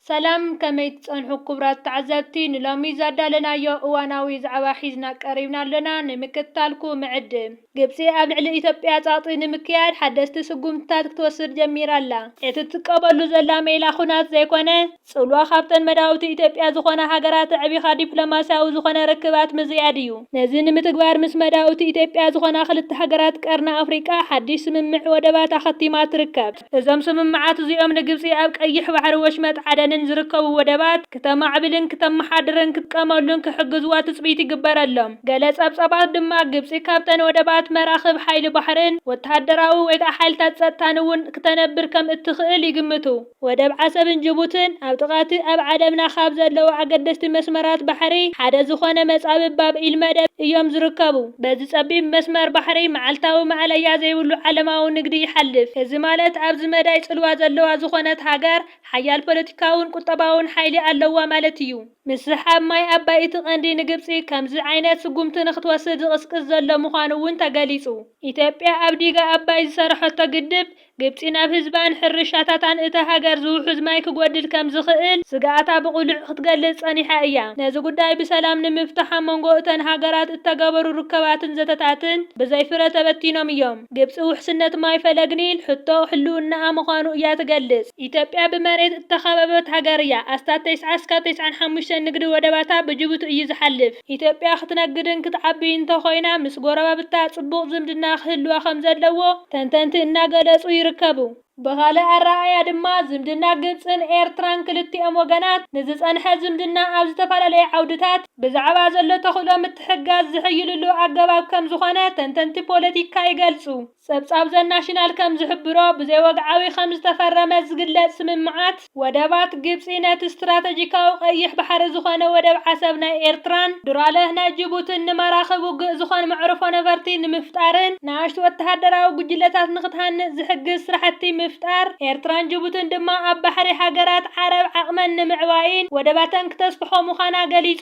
ሰላም ከመይ ትጸንሑ ኩቡራት ተዓዘብቲ ንሎሚ ዛዳለናዮ እዋናዊ ዛዕባ ሒዝና ቀሪብና ኣሎና ንምክትታልኩ ምዕድም። ግብጺ ኣብ ልዕሊ ኢትዮጵያ ጸቕጢ ንምክያድ ሓደስቲ ስጉምትታት ክትወስድ ጀሚራ ኣላ። እቲ ትጥቀመሉ ዘላ ሜላ ኹናት ዘይኮነ ጽልዋ ካብተን መዳውብቲ ኢትዮጵያ ዝኾና ሃገራት ኣዕቢኻ ዲፕሎማስያዊ ዝኾነ ርክባት ምዝያድ እዩ። ነዚ ንምትግባር ምስ መዳውብቲ ኢትዮጵያ ዝኾና ክልተ ሃገራት ቀርኒ ኣፍሪቃ ሓዲሽ ስምምዕ ወደባት ኣኸቲማ ትርከብ። እዞም ስምምዓት እዚኦም ንግብጺ ኣብ ቀይሕ ባሕሪ ወሽመጥ ዓደንን ዝርከቡ ወደባት ክተማዕብልን ክተመሓድርን ክትጥቀመሉን ክሕግዝዋ ትጽቢት ይግበረሎም። ገለ ጸብጻባት ድማ ግብጺ ካብተን ወደባት መራኽብ ሓይሊ ባሕርን ወተሃደራዊ ወይ ከኣ ሓይልታት ጸጥታን እውን ክተነብር ከም እትኽእል ይግምቱ። ወደብ ዓሰብን ጅቡትን ኣብ ጥቓ'ቲ ኣብ ዓለምና ካብ ዘለዉ ኣገደስቲ መስመራት ባሕሪ ሓደ ዝኾነ መጻብብ ባብ ኢልመደብ እዮም ዝርከቡ። በዚ ጸቢብ መስመር ባሕሪ መዓልታዊ ማእለያ ዘይብሉ ዓለማዊ ንግዲ ይሓልፍ። እዚ ማለት ኣብዚ መዳይ ጽልዋ ዘለዋ ዝኾነት ሃገር ሓያል ፖለቲካውን ቁጠባውን ሓይሊ ኣለዋ ማለት እዩ። ምስሕሓብ ማይ ኣባይ እቲ ቀንዲ ንግብጺ ከምዚ ዓይነት ስጉምቲ ንክትወስድ ዝቕስቅስ ዘሎ ምዃኑ እውን ተገሊጹ። ኢትዮጵያ ኣብ ዲጋ ኣባይ ዝሰረሐቶ ግድብ፣ ግብጺ ናብ ህዝባን ሕርሻታታን እታ ሃገር ዝውሑዝ ማይ ክጎድል ከም ዝኽእል ስግኣታ ብቕሉዕ ክትገልጽ ጸኒሓ እያ። ነዚ ጉዳይ ብሰላም ንምፍታሕ ኣብ መንጎ እተን ሃገራት እተገበሩ ርክባትን ዘተታትን ብዘይ ፍረ ተበቲኖም እዮም። ግብጺ ውሕስነት ማይ ፈለግ ኒል ሕቶ ህልውናኣ ምዃኑ እያ ትገልጽ። ኢትዮጵያ ብመሬት እተኸበበት ሃገር እያ። ኣስታት ተስዓ ስካብ ተስዓን ሓሙሽተን ንግዲ ወደባታ ብጅቡቲ እዩ ዝሓልፍ። ኢትዮጵያ ክትነግድን ክትዓብይን እንተኾይና ምስ ጎረባብታ ፅቡቕ ዝምድና ክህልዋ ከምዘለዎ ተንተንቲ እናገለፁ ይርከቡ። ብኻልእ ኣረኣእያ ድማ ዝምድና ግብፅን ኤርትራን ክልቲኦም ወገናት ንዝፀንሐ ዝምድና ኣብ ዝተፈላለየ ዓውድታት ብዛዕባ ዘሎ ተኽእሎ ምትሕግጋዝ ዝሕይልሉ ኣገባብ ከምዝኾነ ተንተንቲ ፖለቲካ ይገልፁ። ጸብጻብ ዘናሽናል ከም ዝሕብሮ፣ ብዘይወግዓዊ ከም ዝተፈረመ ዝግለጽ ስምምዓት ወደባት፣ ግብጺ ነቲ ስትራተጂካዊ ቀይሕ ባሕሪ ዝኾነ ወደብ ዓሰብ ናይ ኤርትራን ዱራለህ ናይ ጅቡትን ንመራኽብ ውግእ ዝኾን መዕርፎ ነበርቲ ንምፍጣርን ንኣሽቱ ወተሃደራዊ ጉጅለታት ንኽትሃንጽ ዝሕግዝ ስራሕቲ ምፍጣር ኤርትራን ጅቡትን ድማ ኣብ ባሕሪ ሃገራት ዓረብ ዓቕመን ንምዕባይን ወደባተን ክተስፍሖ ምዃና ገሊጹ።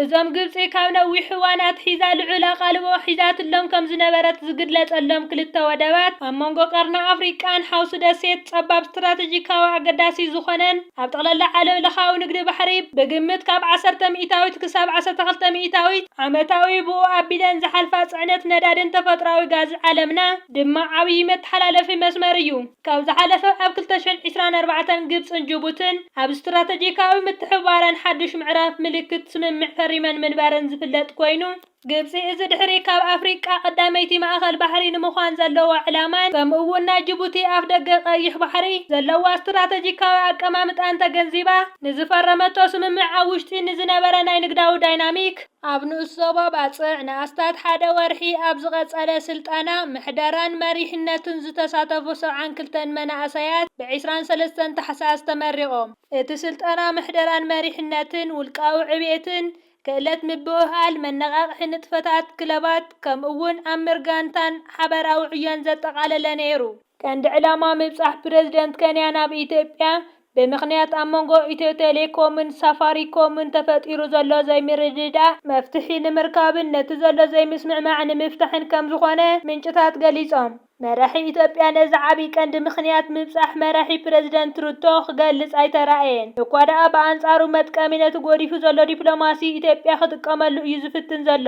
እዞም ግብጺ ካብ ነዊሕ እዋን ኣትሒዛ ልዑል ኣቓልቦ ሒዛትሎም ከም ዝነበረት ዝግለጸሎም ክልተ ወደባት፣ ኣብ መንጎ ቀርኒ ኣፍሪቃን ሓውሲ ደሴት ጸባብ ስትራተጂካዊ ኣገዳሲ ዝኾነን፣ ኣብ ጠቕላላ ዓለምለኻዊ ንግዲ ባሕሪ ብግምት ካብ ዓሰርተ ሚእታዊት ክሳብ ዓሰርተ ክልተ ሚእታዊት ዓመታዊ ብኡ ኣቢለን ዝሓልፋ ጽዕነት ነዳድን ተፈጥሮኣዊ ጋዝ ዓለምና ድማ ዓብዪ መተሓላለፊ መስመር እዩ። ካብ ዝሓለፈ ኣብ ክልተ ሽሕን ዒስራን ኣርባዕተን ግብጽን ጅቡትን ኣብ ስትራተጂካዊ ምትሕብባረን ሓዱሽ ምዕራፍ ምልክት ስምምዕ ፈሪመን ምንባረን ዝፍለጥ ኮይኑ፣ ግብጺ እዚ ድሕሪ ካብ ኣፍሪቃ ቀዳመይቲ ማእከል ባሕሪ ንምዃን ዘለዋ ዕላማን ከምኡ'ውን ናይ ጅቡቲ ኣፍደገ ቀይሕ ባሕሪ ዘለዋ ስትራተጂካዊ ኣቀማምጣን ተገንዚባ ንዝፈረመቶ ስምምዕ ኣብ ውሽጢ ንዝነበረ ናይ ንግዳዊ ዳይናሚክ ኣብ ንኡስ ዞባ ባጽዕ ንኣስታት ሓደ ወርሒ ኣብ ዝቐጸለ ስልጠና ምሕደራን መሪሕነትን ዝተሳተፉ ሰብዓን ክልተን መናእሰያት ብ ዕስራን ሰለስተን ታሕሳስ ተመሪቖም። እቲ ስልጠና ምሕደራን መሪሕነትን፣ ውልቃዊ ዕቤትን፣ ክእለት ምብህሃል፣ መነቓቕሒ ንጥፈታት ክለባት ከምኡ'ውን ኣምር ጋንታን ሓበራዊ ዕዮን ዘጠቓለለ ነይሩ። ቀንዲ ዕላማ ምብጻሕ ፕረዚደንት ከንያ ናብ ኢትዮጵያ፣ ብምኽንያት ኣብ መንጎ ኢትዮ ቴሌኮምን ሳፋሪኮምን ተፈጢሩ ዘሎ ዘይምርድዳእ መፍትሒ ንምርካብን ነቲ ዘሎ ዘይምስምዕማዕ ንምፍታሕን ከምዝኾነ ምንጭታት ገሊጾም። መራሒ ኢትዮጵያ ነዚ ዓቢ ቀንዲ ምኽንያት ምብጻሕ መራሒ ፕረዚደንት ሩቶ ክገልጽ ኣይተራእየን። እኳ ደኣ ብኣንጻሩ መጥቀሚ ነቲ ጎዲፉ ዘሎ ዲፕሎማሲ ኢትዮጵያ ክጥቀመሉ እዩ ዝፍትን ዘሎ።